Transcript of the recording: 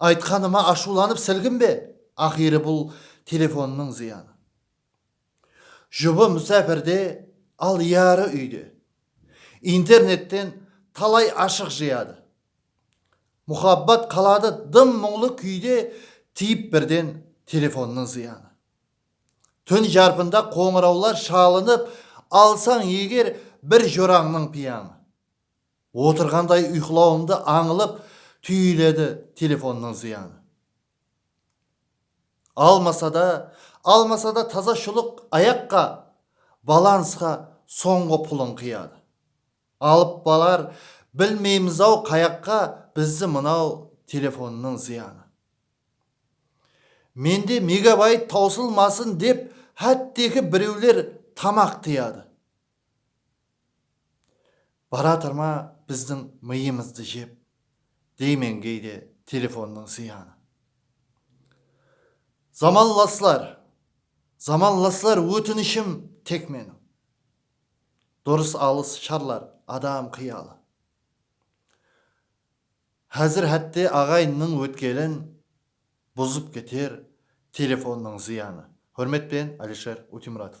Aytqanıma ashıwlanıp silginbe, aqıyri bul telefonnıń zıyanı. Jubı musapirde, al yarı úyde. Internetten talay ashıq jıyadı. Muxabbat qaladı dım muńlı kúyde tiyip birden telefonnıń zıyanı. Tún jarpında qońırawlar shalınıp alsań eger bir jorańnıń piyańı. Otırǵanday uyqılawımdı ańılıp túyiledi telefonnıń zıyanı almasada almasada taza shulıq ayaqqa balansqa sońǵı pulın qıyadı alıp balar bilmeymiz-aw qayaqqa bizdi mınaw telefonnıń zıyanı mende megabayt tawsılmasın dep hátteki birewler tamaq tiyadı Baratır ma bizdiń mıyımızdı jep, deymen geyde telefonnıń zıyanı. Zamanlaslar, zamanlaslar ótinishim tek meniń. Durıs alıs sharlar adam qıyalı. Házir hátte aǵayınnıń ótkelin Buzıp keter telefonnıń zıyanı. Húrmet penen Alisher Utimuratov.